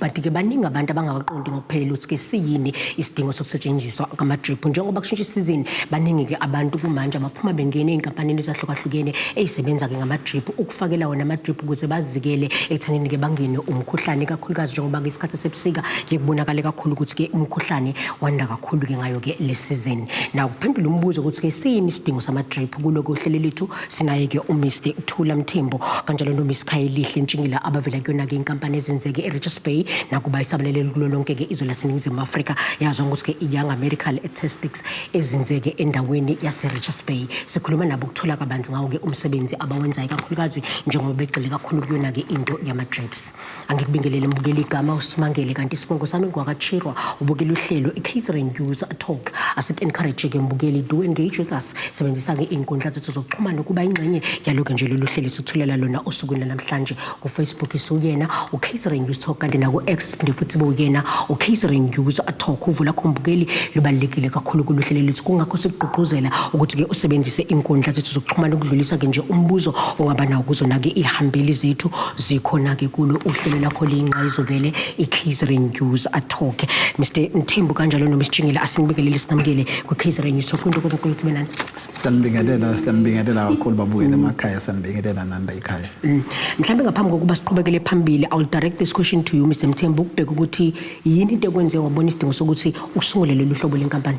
but ke baningi abantu abangawaqondi ngokuphelele ukuthi ke siyini isidingo sokusetshenziswa kwama-drip njengoba kushintsha isizini baningi-ke abantu kumanje abaphuma bengena ey'nkampanini ezahlukahlukene ey'sebenza-ke ngama-drip ukufakela wona ama-drip ukuze bazivikele ekuthenini-ke bangene umkhuhlane kakhulukazi njengoba-ke isikhathi sebusika ke kubonakale kakhulu ukuthi-ke umkhuhlane wanda kakhulu-ke ngayo-ke le sizini na kuphendula umbuzo ukuthi-ke siyini isidingo sama-drip kulo kohlele lethu Sinaye-ke uMr Thula Mthembu kanjalo noMiss Khayelihle Ntshingila abavela kuyona-ke inkampani ezenzeke eRichards Bay nakuba isabalelele kulo lonke-ke izwe laseNingizimu Afrika yazwa ngokuthi-ke i-Young American Statistics ezinzeke endaweni yaseRichards Bay. Sikhuluma nabo ukuthola kabanzi ngawo-ke umsebenzi abawenzayo kakhulukazi njengoba begxile kakhulu kuyona-ke into yama-drips. angikubingelele mbukela igama usimangele kanti isibongo sami ngwakachirwa ubukela uhlelo i-catering user talk asik-encourage ke mbukeli do engage with us sebenzisa ke iy'nkundla zethu zokuxhumana ukuba ingxenye yaloke nje lolu hlelo sithulela lona osukwini lanamhlanje kufacebook isiwuyena u-catering user talk kanti naku-x siphinde futhi bewuyena u-catering user talk uvo lakho mbukeli lubalulekile kakhulu kulu hlelo lethu kungakho sikugqugquzela ukuthi ke usebenzise iy'nkundla zethu zokuxhumana ukudlulisa ke nje umbuzo ongaba nawo kuzona-ke iy'hambeli zethu zikhona-ke kulo uhlelo lakho liyinqa izovele i-kzren news athoke mr mthembu kanjalo nomsijingile asinibingelele sinamukele kwi-kzren news soke into kuzonkulu ukuthi benani siyambingelela siyambingelela kakhulu babuyele mm. emakhaya siyambingelela nanda ikhaya mm. mhlawumbe ngaphambi kokuba siqhubekele phambili i will direct this question to you mr mthembu ukubheka ukuthi yini into ekwenze wabona isidingo sokuthi usungule lolu hlobo lenkampani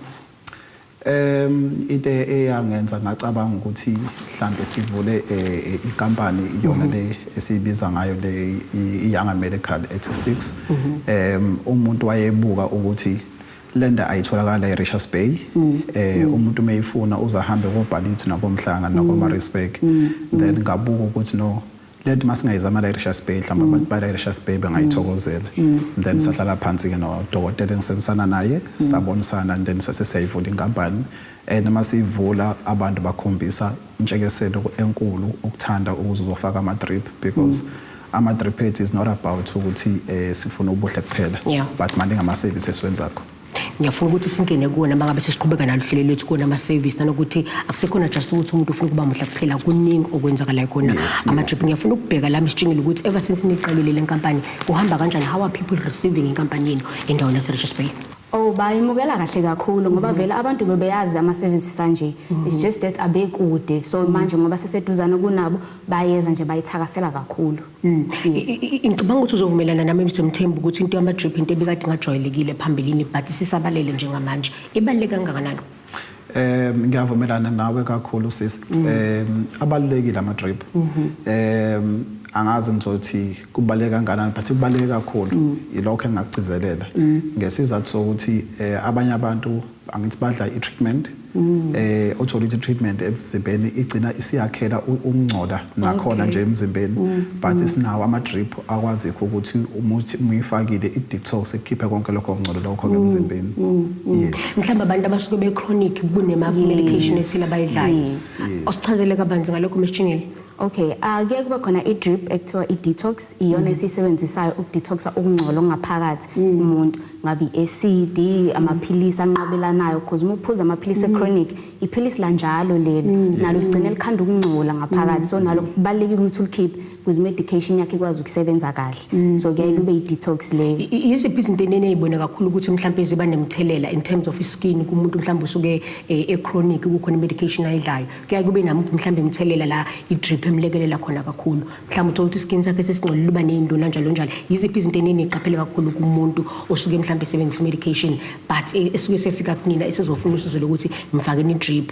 Em into eyangenza ngacabanga ukuthi mhlambe sivule eh, eh, inkampani iyona mhm. le esibiza ngayo le iYanga Medical Statistics. Mhm. Em umuntu wayebuka ukuthi lenda ayitholakala eRichards Bay mm. eh mm. umuntu meyifuna uzahambe koBhalithu nakoMhlanga nakoMaritzburg mm. then ngabuka ukuthi no le nto masingayizama la eRichards Bay mhlawumbe abantu ba eRichards Bay bengayithokozela and then sahlala phansi-ke nodokotela engisebenzisana naye sabonisana and then sase siyayivula inkampani and uma siyivula abantu bakhombisa intshekeselo enkulu ukuthanda ukuze uzofaka ama-drip because ama-drip ethu is not about ukuthi um sifuna ubuhle kuphela Yeah. but maningi ama-service esiwenzakho ngiyafuna ukuthi singene kuwona uma ngabe sesiqhubeka naluhlelo lwethu kuwona ama-service nanokuthi akusekhona just ukuthi umuntu ufuna ukuba muhle kuphela kuningi okwenzakalayo kona ama-trip ngiyafuna ukubheka lami sitshingile ukuthi ever since niqalile le nkampani kuhamba kanjani how are people receiving inkampani yenu endaweni yaserichards bay Oh bayimukela kahle kakhulu ngoba mm-hmm. vele abantu bebeyazi ama services anje it's mm-hmm. just that abekude so manje ngoba seseduzana kunabo bayeza nje bayithakasela kakhulu mm, ngicabanga ukuthi uzovumelana nami Mr Mthembu ukuthi into yama drip into ebikade ingajwayelekile phambilini but sisabalele njengamanje ibaluleke kangakanani Eh ngiyavumelana nawe kakhulu sisi. Mm. Eh abalekile ama drip. Mm-hmm. Eh angazi ngizothi kubaleka kangakanani but kubaleka kakhulu mm. yilokho engakugcizelela mm. ngesizathu sokuthi eh, abanye abantu angithi badla i-treatment mm. eh othola ithi treatment emzimbeni igcina isiyakhela umngcola nakhona nje emzimbeni mm. but mm. isinawo ama drip akwazi ukuthi umuthi muyifakile i detox ekhiphe konke lokho ngcola lokho ke emzimbeni yes mhlawumbe abantu abasuke be chronic kunema medication esile bayidlayo osichazele kabanzi ngalokho meshingile Okay, uh, kuye kube khona i-drip ekuthiwa i-detox iyona mm. esiyisebenzisayo ukudetoxa ukungcola okungaphakathi mm. umuntu ngabe i-acid amaphilisi anqabelanayo because uma uphuza amaphilisi mm. e-chronic iphilisi lanjalo leli mm. nalo ligcine likhanda ukungcola ngaphakathi so nalo kubalulekile ukuthi ulikhiphe because medication yakhe ikwazi ukusebenza kahle so kuyaye kube i-detox leyo yiziphi izinto enene eyibona kakhulu ukuthi mhlawumbe ziba nemthelela in terms of i-skin kumuntu mhlawumbe usuke eh, e-chronic kukhona i-medication ayidlayo kuyaye kube namuphi mhlawumbe imithelela la i-drip emlekelela khona kakhulu mhlawumbe uthola ukuthi iskin sakhe sesingcolile uba ney'nduna njalo njalo yiziphi izinto eniniqaphele kakhulu kumuntu osuke mhlawumbe esebenzisa i-medication but e, esuke sefika kunina esezofuna usizo lokuthi ngifakeni i-drip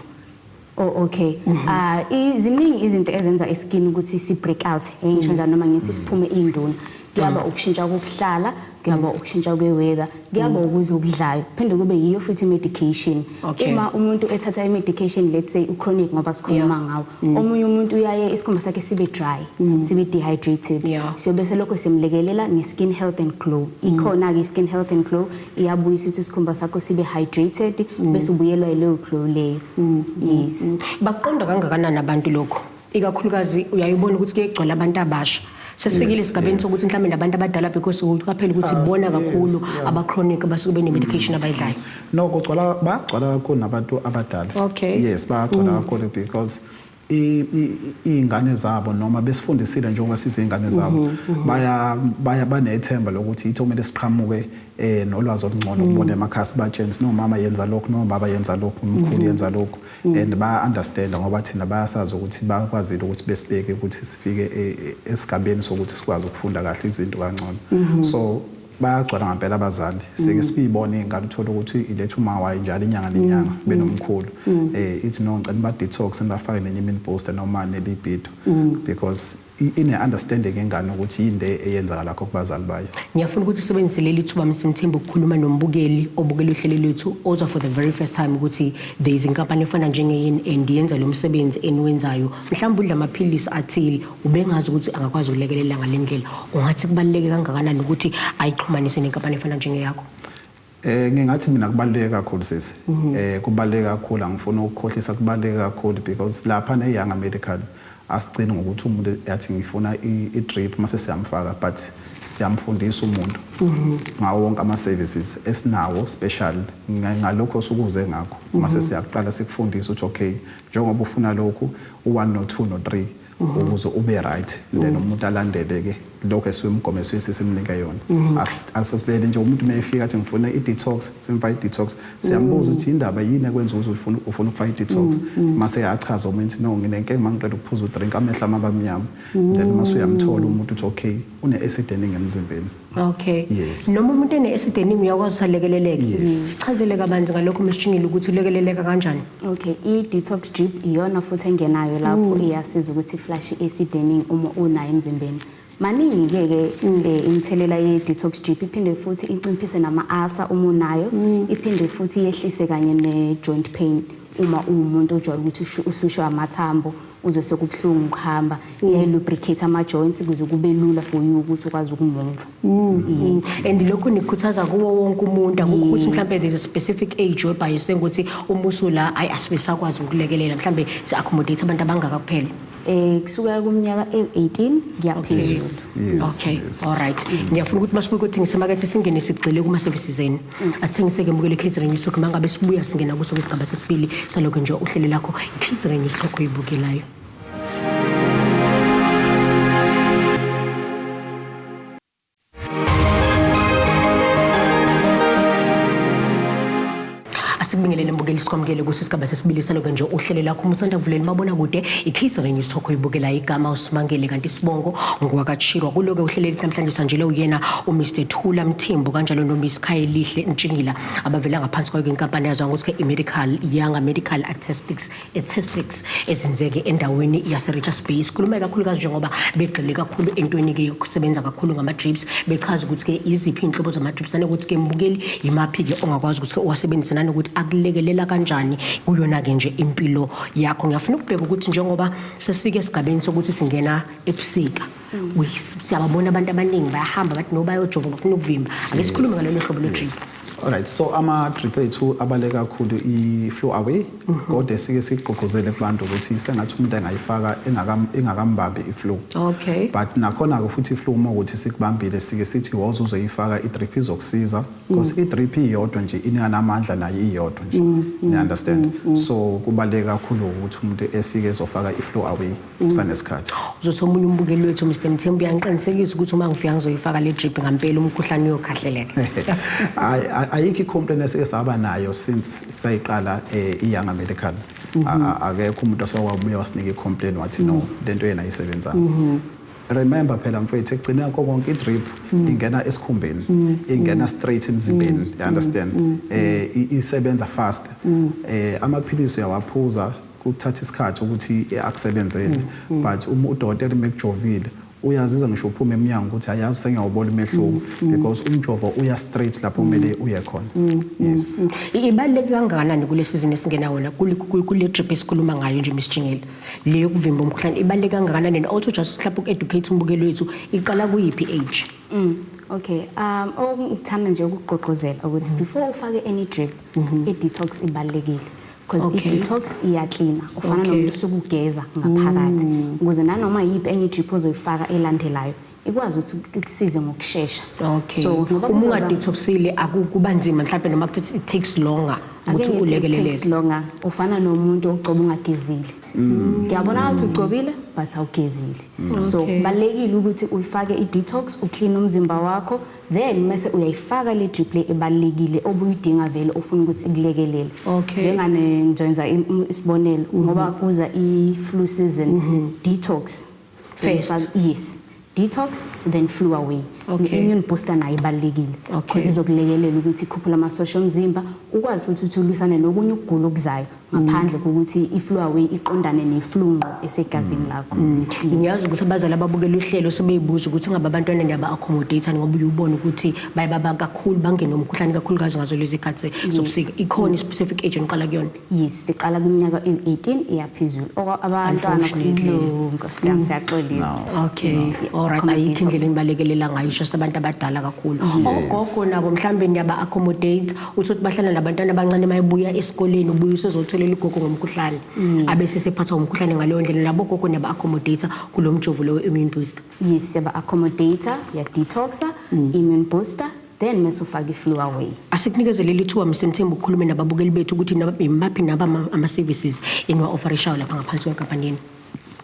Oh okay. Mhm. Ah iziningi izinto ezenza iskin ukuthi si break out. Engisho mhm. njalo noma ngithi siphume induna. kuyaba mm. ukushintsha kokuhlala kuyaba ukushintsha kwe-weather kuyaba mm. ukudla okudlayo phinde kube yiyo futhi i-medication uma umuntu ethatha i-medication let's say uchronic ngoba sikhuluma ngawo mm. omunye umuntu uyaye isikhumba sakhe sibe dry sibe dehydrated so bese lokho simlekelela nge-skin health and glow ikhona-ke i-skin health and glow iyabuyisa ukuthi isikhumba sakho sibe hydrated bese ubuyelwa yileyo glow leyo yes bakuqonda kangakanani abantu lokho ikakhulukazi uyayibona ukuthi kuyegcwala abantu abasha sesifikile esigabeni sokuthi mhlawumbe nabantu abadala because uqaphela ukuthi ah, bona kakhulu abachronic abasuke bene-medication abayidlayo no kugcwala bagcwala kakhulu nabantu abadala okay yes bagcwala mm. kakhulu because iy'ngane zabo noma besifundisile njengoba size iy'ngane zabo mhm, mhm. baya baya banethemba lokuthi yithi okumele siqhamuke eh nolwazi olungcono mm. ukubona emakhasi batsheni sinomama yenza lokhu nomama yenza lokhu umkhulu mhm. yenza lokhu Mm. and baya-understanda ngoba thina bayasazi ukuthi bakwazile ukuthi besibeke ukuthi sifike e, e, esigabeni sokuthi sikwazi ukufunda kahle izinto kangcono mm-hmm. so bayagcwala ngampela abazali seke mm. sibiyibona iy'ngane uthole ukuthi iletha umawayo njalo inyanga nenyanga mm. benomkhulu um ithi no ngicela ba-detox nibafake nenye imini booster noma nelibido because ine understanding engane ukuthi yini le eyenzakala kho kubazali bayo ngiyafuna ukuthi usebenzise leli thuba Mr Mthembu ukukhuluma nombukeli obukela uhlelo lwethu ozwa for the very first time ukuthi there is inkampani efana njenge and yenza lo msebenzi eniwenzayo mhlawumbe udla amaphilisi athile ubengazi ukuthi angakwazi ukulekelela ngalendlela ungathi kubaleke kangakanani ukuthi ayixhumanise nenkampani efana njengeyakho Eh ngingathi mina kubaluleke kakhulu sisi. Mhm. Eh kubaluleke kakhulu angifuni ukukhohlisa kubaluleke kakhulu because lapha ne Young Medical asigcini ngokuthi umuntu yathi ngifuna i drip mase siyamfaka but siyamfundisa umuntu mhm. ngawo wonke ama services esinawo special ngalokho osukuze ngakho mase mhm. siyakuqala sikufundisa ukuthi okay njengoba ufuna lokhu u1 no 2 no 3 ukuze ube right then umuntu alandele ke lokho esiwumgomo esiyisi simnike yona asivele nje umuntu mefika athi ngifuna i-detox simfa i-detox siyambuza ukuthi indaba yini ekwenza uze ufuna ufuna ukufaka i-detox mase achaza umuntu no nginenkinga mangiqeda ukuphuza udrink amehla amabamnyama then mase uyamthola umuntu uthi okay une-acid eningi emzimbeni Okay. Yes. Noma umuntu ene esideningi uyakwazi usalekeleleke. Yes. Sichazele kabanzi ngalokho mshingile ukuthi ulekeleleka kanjani. Okay. I detox drip iyona futhi engenayo lapho mm. iyasiza ukuthi flush esideningi uma unayo emzimbeni. Maningi ke ke mm. eh, imithelela ye detox drip iphinde futhi inciphise nama ulcer uma unayo, mm. iphinde futhi yehlise kanye ne joint pain uma uwumuntu ojwayele ukuthi uhlushwa amathambo. uzwe sekubuhlungu ukuhamba mm. iyayi-lubricate ama-joints kuze kube lula for you ukuthi ukwazi ukumumva mm. mm. and lokho nikhuthaza kuwo wonke umuntu akukho ukuthi mhlawumbe there's a specific age webhayiswe ukuthi umusu la ayi asibe sakwazi ukulekelela mhlawumbe si-accommodate abantu abangaka kuphela eh kusukela kumnyaka e-18 ngiyaphezulu okay all right ngiyafuna ukuthi masibuye ukuthi ngisemakethe singene sigxile kuma-services enu asithengiseke mukele catering news talk mangabe sibuya singena kuso kwisigaba sesibili saloke nje uhlele lakho i-catering news talk oyibukelayo asikubingelele mbukeli sikwamukele kuso isigaba sesibili saloke nje uhlele lakho uma usanda kuvuleli mabona kude i-catering news talk oyibukelayo igama usimangele kanti isibongo ngokwakachirwa kuloke uhleleli namhlanje sanjele uyena umr Khula Mthembu kanjalo noMiss Khayelihle Ntshingila abavela ngaphansi kwayo inkampani yazwa ngokuthi iMedical Young Medical Artistics Artistics ezinzeke endaweni yaseRichards Bay sikhuluma kakhulukazi njengoba begxile kakhulu entweni ke yokusebenza kakhulu ngama-drips bechaza ukuthi ke iziphi inhlobo zama-drips nanokuthi ke mbukeli yimaphi ke ongakwazi ukuthi ke uwasebenzise nanokuthi akulekelela kanjani kuyona ke nje impilo yakho ngiyafuna ukubheka ukuthi njengoba sesifike esigabeni sokuthi singena ebusika siyababona abantu abaningi bayahamba bathi no bayojova bafuna ukuvimba ake sikhulume ngalolu hlobo lwe-drip Alright so ama drip ethu abale kakhulu i flow away mhm. kodwa sike sigqugquzele kubantu ukuthi sengathi umuntu angayifaka engakambambi i flow. Okay. But nakhona ke futhi i flow uma ukuthi sikubambile sike sithi woza uzoyifaka i drip izokusiza because mm. i drip iyodwa nje inanamandla nayo iyodwa nje. Mm, mm, you understand? So kubaleka kakhulu ukuthi umuntu efike ezofaka i flow away. kusanesikhathi uzothi omunye umbukeli wethu Mr Mthembu uyangiqinisekisa ukuthi uma ngifika ngizoyifaka le drip ngampela umkhuhlane uyokhahleleka hayi ayikho icomplaint esike saba nayo since sayiqala eh, iYanga Medical mhm. akekho umuntu osawubuya wasinika icomplaint wathi no mhm. lento yena ayisebenzanga mhm. remember phela mfethu ekugcina konke konke idrip mm. ingena esikhumbeni mm. ingena mm. straight emzimbeni you understand eh isebenza fast eh amaphilisi uyawaphuza kuthatha isikhathi ukuthi akusebenzele mm, mm. but uma udokotela mekujovile uyaziza ngisho uphuma emnyango ukuthi ayazi sengiyawubona umehluko mm, mm. because umjovo uya straight lapho mm. kumele uye khona yes ibaluleke kangakanani kule season esingena wona kule trip esikhuluma ngayo nje Miss Jingile le yokuvimba umkhuhlane ibaluleke kangakanani and also just mhlawumbe ukeducate umbukeli wethu iqala kuyiphi age okay um okungithanda nje ukugqogqozela ukuthi before ufake any drip mm-hmm. i detox ibalekile because okay. i-detox iyaklina ufana okay. nomuntu usukugeza ngaphakathi mm. ukuze nanoma yiphi enye idrip ozoyifaka elandelayo ikwazi ukuthi kusize ngokushesha okay. so uma ungadetoxile akuba nzima mhlawumbe noma kuthi it takes longer ukuthi ulekeleleke takes longer ufana nomuntu ogcoba ungagezile mm. ngiyabona mm. ukuthi ugcobile but awugezile mm. so kubalekile ukuthi uyifake i-detox uclean umzimba wakho then mase uyayifaka le drip le ebalekile obuyidinga vele ufuna ukuthi ikulekelele okay. njengane njenza isibonelo mm -hmm. ngoba kuza i flu season mm -hmm. detox first yes detox then flu away okay. immune booster nayo ibalekile okay. izokulekelela ukuthi ikhuphula amasosha omzimba ukwazi ukuthi uthi ulusane nokunye ukugula okuzayo ngaphandle kokuthi i-flu away iqondane ne-flu ngqo esegazini lakho mm. Mm. ngiyazi ukuthi abazali ababukela uhlelo sebeybuza ukuthi ngabe abantwana ndiyaba accommodate ngoba uyubona ukuthi baye baba kakhulu bangene umkhuhlane kakhulukazi ngazo lezi khathi zobusika ikhona i-specific age oniqala kuyona yes siqala kwiminyaka ewu-18 iyaphezulu abantwana nkosyam mm. siyaxolisa okay allright ayikho indlela enibalekelela ngayo just abantu abadala kakhulu ogogo nabo mhlawumbe ndiyaba accommodate uthi ukuthi bahlala nabantwana abancane uma ebuya esikoleni ubuye usezotholela ugogo ngomkhuhlane abe sesephathwa ngumkhuhlane ngaleyo ndlela labo gogo niyaba-accommodator kulo mjovo lowo immune booster yes siyaba-accommodator ya-detoxa mm. immune booster then mese ufake i-flu away asikunikezele lithuba msemthemba ukukhulume nababukeli bethu ukuthi yimaphi naba ama-services eniwa-ofarishayo lapha ngaphansi kwenkampanini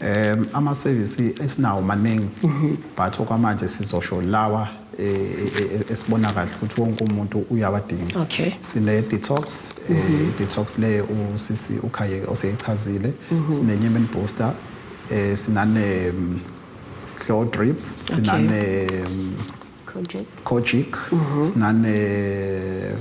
Um amasevisi esinawo maningi mhm. but okwamanje sizosho lawa e, e, e, esibona kahle ukuthi wonke umuntu uyawadinga okay. sine-detox um mhm. i-detox le usisi ukhayeke oseyichazile mhm. sine-nyemen booster um sinane-flow mm, drip sinane okay. Mm, Kojic mhm. sinane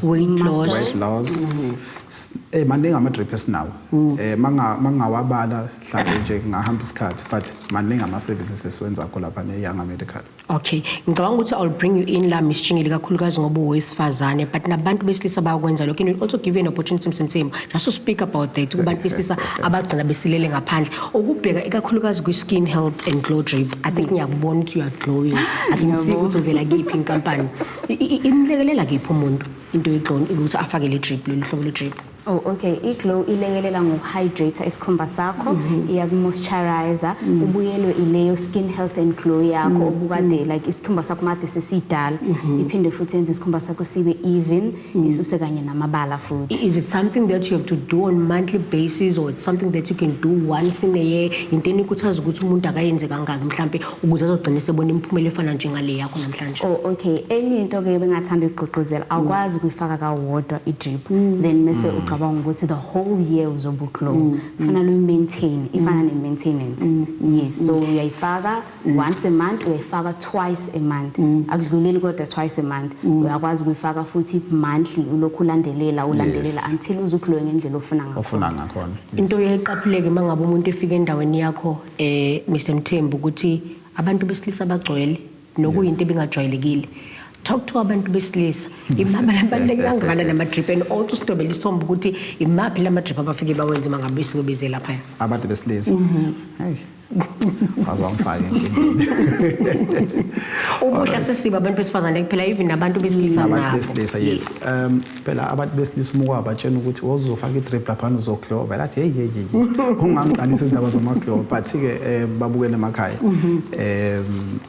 weight loss weight loss mhm. eh maningi ama drip esinawo mm. eh manga mangawabala mhlawumbe nje ngahamba isikhathi but maningi ama services esiwenza kho lapha ne young medical okay ngicabanga ukuthi i'll bring you in la miss Chingile kakhulukazi ngoba uwesifazane but nabantu besilisa bayakwenza lokho and also give you an opportunity msemsemo Just to speak about that kubantu besilisa abagcina besilele ngaphandle ukubheka ikakhulukazi kwi-skin health and glow drip i think ngiyakubona ukuthi you are glowing i can see ukuthi uvela kiphi inkampani I- i- imlekelela kephi umuntu into yeglow ukuthi afake le drip lolu hlobo lwe-drip Oh okay, iglow ilekelela ngokuhydrate isikhumba sakho, iyakumoisturizer, ubuyelwe ileyo skin health and glow yakho obukade like isikhumba sakho made sesidala, iphinde futhi yenze isikhumba sakho sibe even isuse kanye namabala futhi Is it something that you have to do on monthly basis or it's something that you can do once in a year? Into enikhuthaza ukuthi umuntu akayenze kangaki mhlampe ukuze azogcina sebona imiphumela efana njengale yakho namhlanje. Oh, okay enye into ke bengathanda ukugqugquzela awukwazi kuyifaka kawodwa i-drip then mese ucabanga ukuthi the whole year uzobuglow kufanele uyi-maintain ifana ne-maintenance yes so uyayifaka mm. once a month uyayifaka twice a month mm. akudluleli kodwa twice a month mm. uyakwazi ukuyifaka futhi monthly ulokhu ulandelela ulandelela yes. until uze ukhlowe ngendlela ofuna ngakhona ofuna ngakhona yes. into eyayiqaphuleke mangabe umuntu efika endaweni yakho eh Mr Mthembu ukuthi abantu besilisa bagcwele nokuyinto yes. ebingajwayelekile talk to abantu besilisa imaphi labaluleke kangakana nama-drip and also sidobela isithombe ukuthi imaphi lama-drip abafike bawenze uma ngabe singobizela phaya abantu besilisa mm-hmm. waze wangifaka enkingeni ubuhle sesiba abantu besifazane kuphela even nabantu besilisa nabo abantu besilisa yes um phela abantu besilisa uma kwabatshena ukuthi wozofaka i-drip laphana uzogloba vele athi heyi heyi heyi ungangiqalisa izindaba zamagloba but-ke um babukele emakhaya mhm. um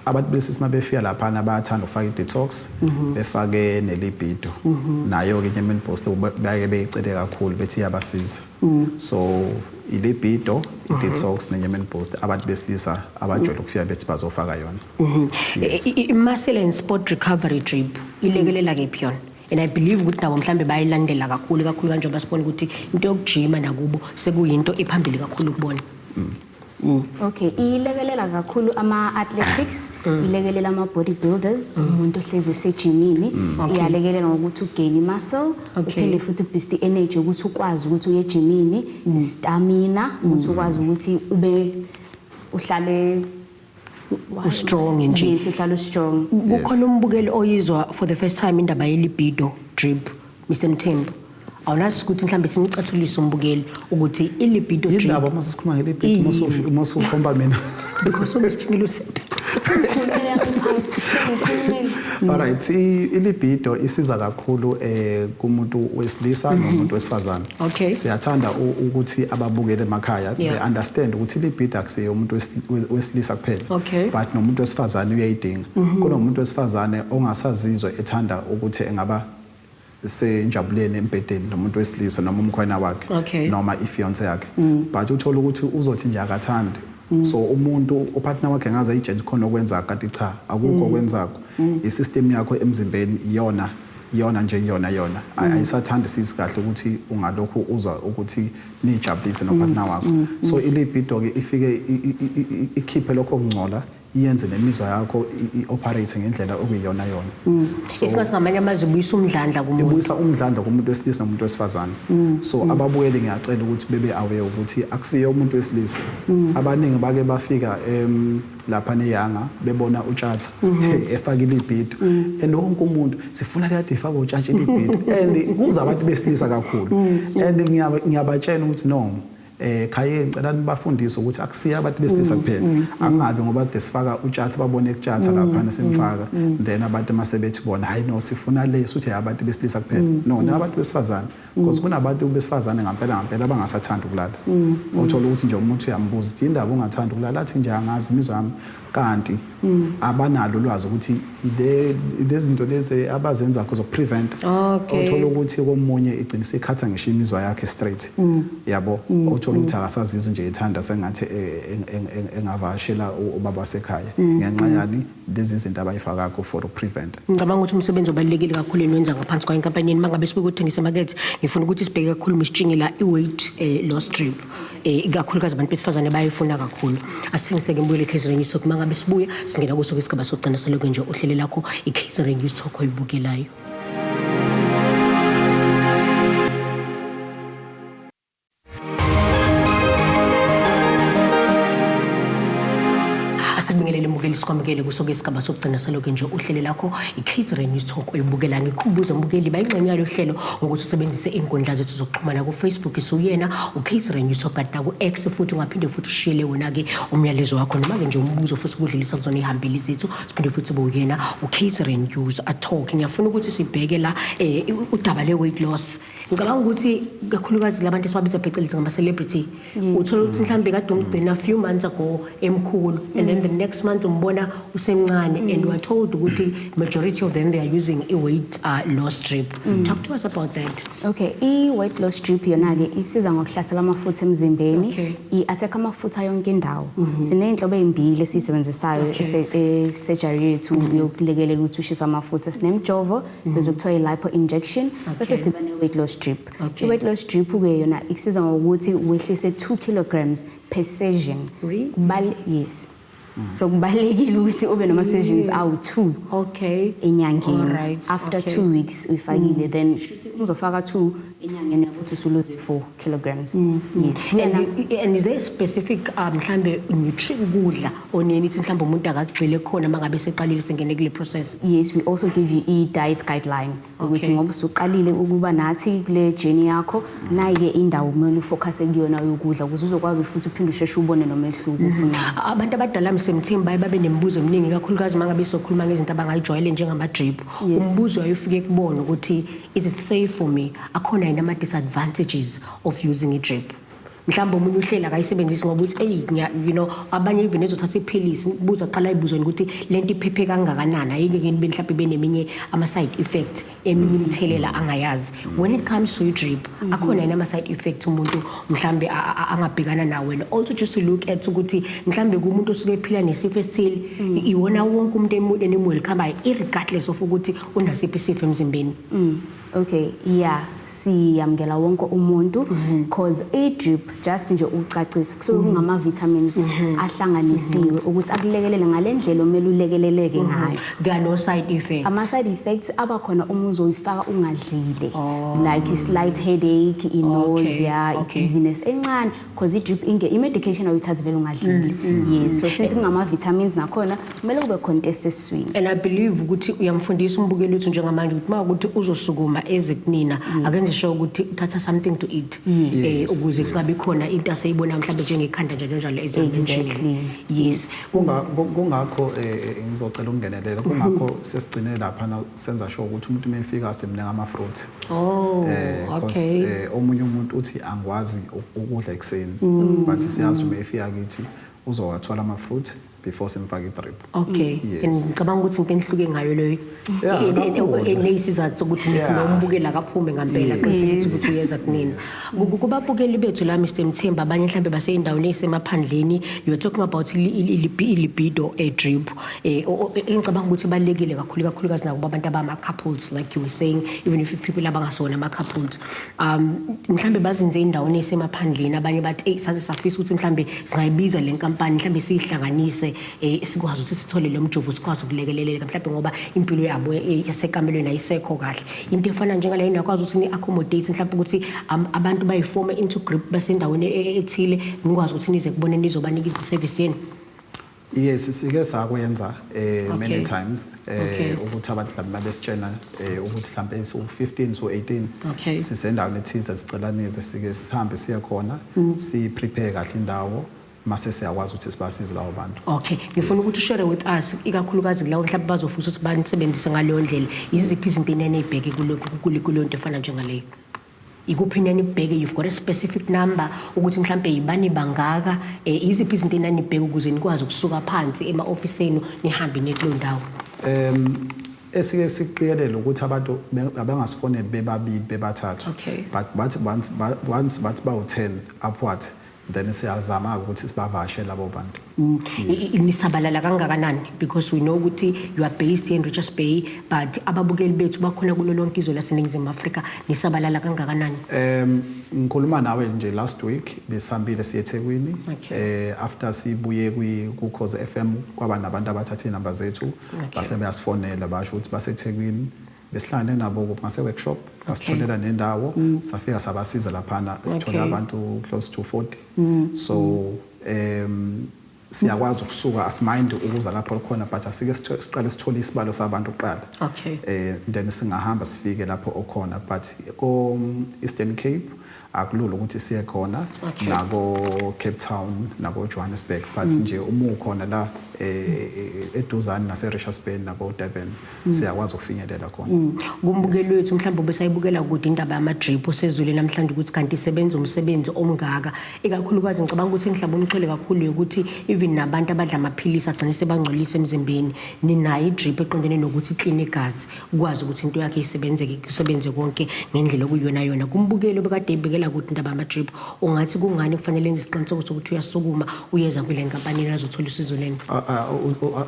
abantu besilisa uma befika laphana bayathanda ukufaka i-detox mhm. befake nelibido mhm. nayo-ke inyama enibhosile baye beyicele kakhulu bethi iyabasiza Mm. So ilibido mhm. i-detox ne-yemen boost abantu besilisa abajwayele ukufika bethi bazofaka yona mhm. i-muscle and sport recovery drip ilekelela kephi yona and i believe ukuthi nabo mhlawumbe bayilandela kakhulu kakhulu kanjengoba sibona ukuthi into yokujima nakubo sekuyinto ephambili kakhulu kubona mm. Mm. Okay, ilekelela kakhulu ama athletics, mm. ilekelela ama bodybuilders, mm. umuntu ohlezi esejimini, mm. okay. iyalekelela ngokuthi ugain muscle, okay. uphinde futhi boost energy ukuthi ukwazi ukuthi uye ejimini, mm. stamina, mm. ukuthi ukwazi ukuthi ube uhlale ustrong nje yes uhlala ustrong kukhona umbukeli oyizwa for the first time indaba yelibido drip Mr Mthembu awulazi ukuthi mhlawumbe simcathulise umbukeli ukuthi ilibido drip yilabo uma sesikhuluma ngelibido uma usukhomba mina because umsithingile usepe alright ilibido isiza kakhulu eh kumuntu wesilisa nomuntu wesifazane Okay. Siyathanda ukuthi ababukele emakhaya yeah. they understand ukuthi libhida akusiye umuntu wesilisa kuphela. Okay. But nomuntu wesifazane uyayidinga. Mm -hmm. Kunomuntu wesifazane ongasazizwa ethanda ukuthi engaba senjabuleni embhedeni nomuntu wesilisa noma umkhwena wakhe okay. noma ifiance yakhe. Mm. But uthola ukuthi uzothi nje akathandi Mm. so umuntu upartner wakhe ngaze ayitshentshe khona okwenza kati cha akukho mm. okwenzako mm. isystem yakho emzimbeni iyona iyona nje kuyona yona mm. ayisathandi sisi kahle ukuthi ungalokhu uzwa ukuthi nijabulise nopartner mm. wakho mm. so ilibido ke ifike ikhiphe lokho kungcola iyenze nemizwa yakho i-operate ngendlela okuyiyona yona mm. isikhathi ngamanye amazwi ibuyisa umdlandla kumuntu ibuyisa umdlandla kumuntu wesilisa nomuntu wesifazane mm. so mm. ababuyeli ngiyacela ukuthi bebe aware ukuthi akusiye umuntu wesilisa abaningi bake bafika lapha neyanga bebona utshatha mhm. efakile ibhido mhm. and wonke umuntu sifuna kade ifaka utshatshe ibhido and kuza abantu besilisa kakhulu mhm. and ngiyabatshena ukuthi no eh khaye ngicela nibafundise ukuthi akusiye abantu besilisa mm, kuphela mm, mm. angabe ngoba de sifaka utshatha babone kutshatha lapha nasemfaka then abantu masebethi bona hayi no sifuna le suthi abantu besilisa kuphela no nabantu besifazana because kunabantu besifazane ngampela ngampela abangasathandi ukulala mm. othola ukuthi nje umuntu uyambuza ukuthi indaba ungathandi ukulala athi nje angazi imizwa yami kanti mm. abanalo ulwazi ukuthi lezinto lezi abazenza kho zokuprevent othola ukuthi komunye igcina isikhatha ngisho imizwa yakhe straight mm. yabo othola ukuthi akasazizwe nje ethanda sengathi e, e, e, engavashela ubaba wasekhaya ngenxa yani lezi izinto abayifaka ku for prevent ngicabanga ukuthi umsebenzi obalekile kakhulu enwenza ngaphansi kwa inkampani yeni mangabe sibuka uthengisa market ngifuna ukuthi sibheke kakhulu misitshinge la i weight eh, loss drip eh, ikakhulukazi abantu besifazane bayifuna kakhulu asingiseke ngibuyele catering talk mangabe sibuya singena kuso kwesigaba sokugcina saloku nje uhlele lakho i catering talk oyibukelayo asibingelele mukeli sikwamukele kuso ke isigaba sokugcina saloke nje uhlele lakho i-catering news talk oyibukela ngikhumbuze mukeli bayingxenye yalo hlelo ngokuthi usebenzise iy'nkundla zethu zokuxhumana kufacebook isiwuyena u-catering news talk kanti naku-x futhi ungaphinde futhi ushiyele wona-ke umyalezo wakho noma-ke nje umbuzo futhi ukudlulisa kuzona iy'hambeli zethu siphinde futhi bowuyena u-catering news atalk ngiyafuna ukuthi sibheke la um udaba le-weight loss ngicabanga ukuthi kakhulukazi labantu esibabiza phecelezi ngama-celebrity uthola ukuthi mhlawumbe kade umgcina few months ago emkhulu and then the next month umbona usemncane and weare told ukuthi majority of them they are using i-weight uh, loss drip mm. talk to us about that okay i-weight loss drip yona-ke isiza ngokuhlasela amafutha emzimbeni okay. i-attack amafutha yonke indawo mm -hmm. siney'nhlobo ey'mbili esiyisebenzisayo okay. esejari e, yethu mm -hmm. yokulekelela ukuthi ushisa amafutha sinemjovo Mm. bese kuthiwa i-lipo injection bese siba ne-weight loss drip i-weight loss drip-ke yona ikusiza ngokuthi wehlise 2 kilograms per session yes mm. so kubalulekile ukuthi ube nama-sessions awu-two okay enyangeni after two weeks uyifakile mm. then shuthi uzofaka two enyangeni yakuthi usuluze four kilograms mm. yes mm. and, and, and is there a specific uh, mhlambe nutrient ukudla oneni ithi mhlambe umuntu akagxile khona mangabe seqalile sengene kule process yes we also give you e diet guideline ukuthi ngoba usuqalile ukuba nathi kule journey yakho nayike indawo kumele ufocus kuyona yokudla ukuze uzokwazi futhi uphinde usheshe ubone nomehluko mm-hmm. ufuna abantu abadala msemthini baye babe nemibuzo eminingi kakhulukazi mangabe sokhuluma ngezinto abangayijwayele njengama drip umbuzo ayofike kubona ukuthi is it safe for me akhona yini ama-disadvantages of using i-drip mhlawumbe omunye uhlela akayisebenzisi ngoba uthi eyi you know abanye even ezothatha iphilisi buza kuqala ayibuzweni ukuthi le nto iphephe kangakanani ayike keni be mhlawumbe beneminye ama-side effect eminye imithelela angayazi when it comes to i-drip mhm. akhona yini ama-side effect umuntu mhlawumbe angabhekana nawo wena also just to look at ukuthi mhlawumbe kumuntu osuke ephila nesifo esithile mm. iwona wonke umuntu enemuli khambayo irregardless of ukuthi unasiphi isifo emzimbeni mm. Okay, yeah, siyamukela wonke umuntu mhm. cause a drip just nje ucacisa kusuke mhm. kungama vitamins mhm. ahlanganisiwe ukuthi akulekelele ngalendlela omele ulekeleleke ngayo. Kano side effects. Ama side effects aba khona uma uzoyifaka ungadlile. Oh. Like slight headache, nausea, dizziness encane because i-drip inge i-medication awuyithathi vele ungadlili mm, mm, yes mm. so since kungama-vitamins nakhona kumele kube khona into eseswini and i believe ukuthi uyamfundisa umbukeli wethu njengamanje ukuthi uma ukuthi uzosukuma eze kunina akenze sure ukuthi uthatha something to eat um ukuze xa bekhona into aseyibona mhlawumbe njengekhanda njalo njalo exactly yes kungakho eh, eh, eh, ngizocela ukungenelela mhm. kungakho sesigcine lapha na senza sure ukuthi umuntu mefika asemnika ama fruit oh eh okay omunye umuntu uthi angwazi ukudla ekseni mm. but siyazi uma efika kithi uzowathola ama fruit before simfake i drip okay ngicabanga ukuthi into enhluke ngayo leyo Yeah, Ene- ene- kakhulu. ene- isizathu sokuthi nithi Yeah. nombukeli akaphume ngampela Yes. qinisekisa ukuthi uyenza kunini Ku- ku- kubabukeli bethu la mr mthemba abanye mhlawumbe baseyindaweni eyisemaphandleni you're talking about ili- ili- ilibi- ilibido eh, drip eh, o- o- engicabanga ukuthi ibalulekile kakhulu kakhulukazi nakuba abantu abama-couples like you were saying even if people abangasona ama-couples um mhlawumbe bazinze endaweni eyisemaphandleni abanye bathi eyi saze safisa ukuthi mhlawumbe singayibiza le nkampani mhlawumbe siyihlanganise eh sikwazi ukuthi sithole lo mjovo sikwazi ukulekeleleka mhlawumbe ngoba impilo yabo eh, esekamelweni ayisekho kahle into efana njengaleyo nakwazi ukuthi ni-accommodate mhlawumbe ukuthi um, abantu bayifome into group basendaweni e, e, ethile nikwazi ukuthi nize kubone nizobanika iziservice yenu yes sike sakwenza eh okay. many times eh okay. ukuthi abantu mhlawumbe babesitshena eh ukuthi mhlawumbe so 15 so 18 okay. sisendaweni ethize sicela nize sike sihambe siye khona mm. si prepare kahle indawo mase siyakwazi ukuthi sibasize lawo bantu okay ngifuna ukuthi ushare with us ikakhulukazi kulawo mhlawumbe bazofisa ukuthi banisebenzise ngaleyo ndlela yiziphi izinto enene ibheke kuleyo nto efana njengaleyo ikuphi nani ibheke you've got a specific number ukuthi mhlambe yibani bangaka eh, yiziphi izinto enani ibheke ukuze nikwazi ukusuka phansi ema office enu nihambe nekulo ndawo um esike siqikelele ukuthi abantu abangasifoneli bebabili bebathathu but bathi once bathi bawu-10 upward then siyazama-ke ukuthi sibavashe labo bantu mm. yes. nisabalala kangakanani because we know ukuthi you are based in richards bay but ababukeli bethu bakhona kulo lonke izwe laseningizimu afrika nisabalala kangakanani um ngikhuluma nawe nje last week besihambile siye ethekwini okay. eh, after sibuye kwi-cause f m kwaba nabantu abathathe iy'namba zethu okay. basebeyasifonela basho ukuthi basethekwini besihlangane nabo ngase-workshop ngasitholela okay. nendawo mm. safika sabasiza laphana sithole okay. abantu close to 40 mm. so um siyakwazi ukusuka asimind ukuza lapho khona but asike siqale sithole isibalo sabantu kuqala okay eh then singahamba sifike lapho okhona but ko Eastern Cape akulula ukuthi siye khona okay. nako-cape town nako-johannesburg but mm. nje uma ukhona la eh, eduzane nase-richards bay nako-durban mm. siyakwazi ukufinyelela khona mm. kumbukeli wethu mhlawumbe ubesayibukela kude indaba yamadrip usezwile namhlanje ukuthi kanti isebenza umsebenzi omngaka ikakhulukazi ngicabanga ukuthi engihlaba umxhwele kakhulu yokuthi even nabantu abadla amaphilisi agcine sebangcolisa emzimbeni ninayo idrip eqondene nokuthi ikline igazi ukwazi ukuthi into yakhe isebenzeke kusebenze konke ngendlela okuyona yona kumbukeli obekade ebekela ukuthi indaba yama-drip ungathi kungani kufanele enze isiqiniseko sokuthi uyasukuma uyeza kule nkampani azothola usizo leni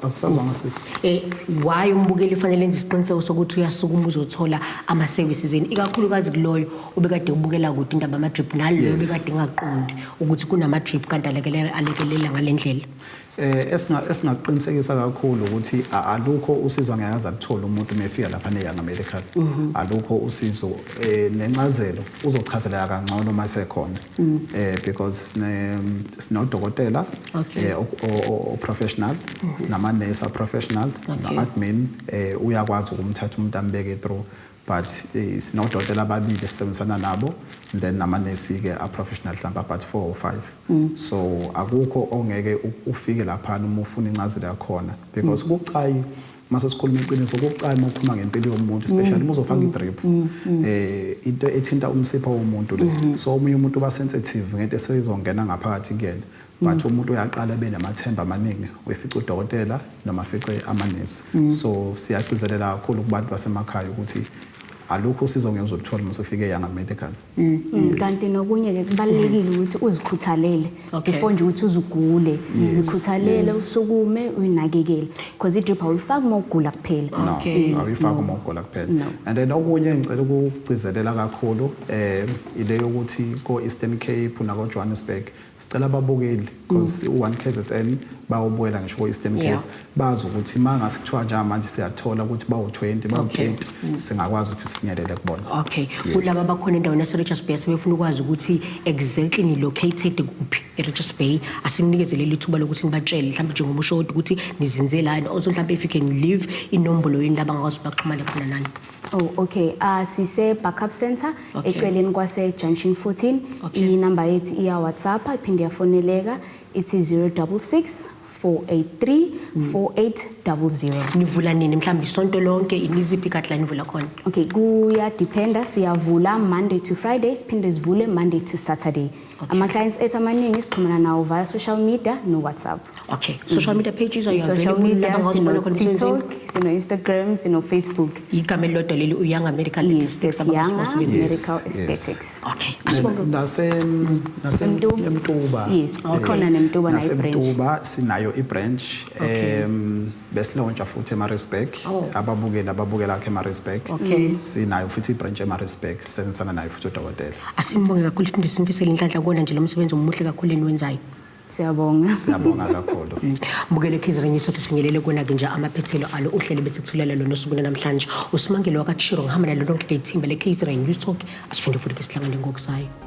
angisazwanga sisi um why umbukeli ufanele enze isiqiniseko sokuthi uyasukuma uzothola ama-services eni ikakhulukazi kuloyo obekade ubukela kude indaba yama-drip naloyo obekade ngaqondi ukuthi kunama-drip kanti alekelela ngale ndlela Eh esinga esingakuqinisekisa kakhulu ukuthi alukho usizo angeke aze aluthole umuntu mefika lapha ne Young American. Mhm. Alukho usizo eh nencazelo uzochazeleka kangcono uma sekhona. Mm. Eh because sine sinodokotela eh o professional, mhm. sinama nurse professional, na admin eh uyakwazi ukumthatha umuntu ambeke through But sinodokotela ababili esisebenzisana nabo and then namanesi-ke a-professional mhlawumbe about four or five mm. so akukho ongeke ufike laphana uma ufuna incazelo yakhona because mm. kucayi mm. mase sikhuluma iqiniso kucayi uma uphuma ngempilo yomuntu especially mm. uma uzofaka mm. i-drip um into ethinta umsipha womuntu le mm-hmm. so omunye umuntu uba sensitive ngento eseyizongena ngaphakathi kuyena but umuntu uyaqala ebe namathemba amaningi uyefica udokotela noma afice amanesi mm. so siyagcizelela kakhulu kubantu basemakhaya ukuthi alukho usizo ngeke uzoluthola uma usufike yanga medical mm. mm. kanti nokunye ke kubalekile ukuthi uzikhuthalele before nje ukuthi uzugule zikhuthalele usukume uyinakekele because idrip awuyifaki uma ugula kuphela awuyifaki uma ugula kuphela and then okunye ngicela ukugcizelela kakhulu um ile yokuthi ko-eastern cape nakojohannesburg sicela ababukeli because mm. u-one kzn bayobuyela ngisho ko-eastern cape yeah. bazi ukuthi ma ngase kuthiwa njengamanje siyathola ukuthi bawu-20 bawu-30 okay. Mm. singakwazi ukuthi sifinyelele kubona okay kulaba yes. abakhona endaweni yaserichards bay sebefuna ukwazi ukuthi exactly nilocated kuphi erichards bay asinikezele lithuba lokuthi nibatshele mhlawumbe njengoba usho ukuthi nizinzelani also mhlawumbe if you can leave inombolo yini laba ngakwazi baxhumane khona nani Oh okay uh, sise backup center okay. eceleni kwase junction 14 okay. inamba yethu iya WhatsApp iphinde yafoneleka ithi 066 483 4800 nivula nini mhlawumbe isonto lonke iniziphi ikadla nivula khona okay kuya dependa siyavula monday to friday siphinde sivule monday to saturday Okay. Ama-clients ethu amaningi sixhumana nawo via social media no-whatsapp okay mm. social media pages are social media sino-tiktok sino-instagram sino-facebook igama elilodwa leli uyanga medical statistics abangayanga medical statistics okay nasemtuba yes ikhona nemtuba nayo i-branch nasemtuba sinayo i-branch um besilontsha futhi eMaritzburg oh. ababukeli ababukela akhe eMaritzburg okay. Mm. sinayo futhi ibranch eMaritzburg sisebenzisana nayo futhi udokotela asimbonge kakhulu iphinde simfisele inhlanhla kubona nje lo msebenzi omuhle kakhulu eniwenzayo siyabonga siyabonga kakhulu mm. bukele khizireni sothi sifinyelele kona ke nje amaphethelo alo uhlele bese kuthulela lona usuku namhlanje usimangelo wakachiro ngihamba nalo lonke ke ithimba le khizireni you talk asiphinde futhi ke sihlangane ngokusayo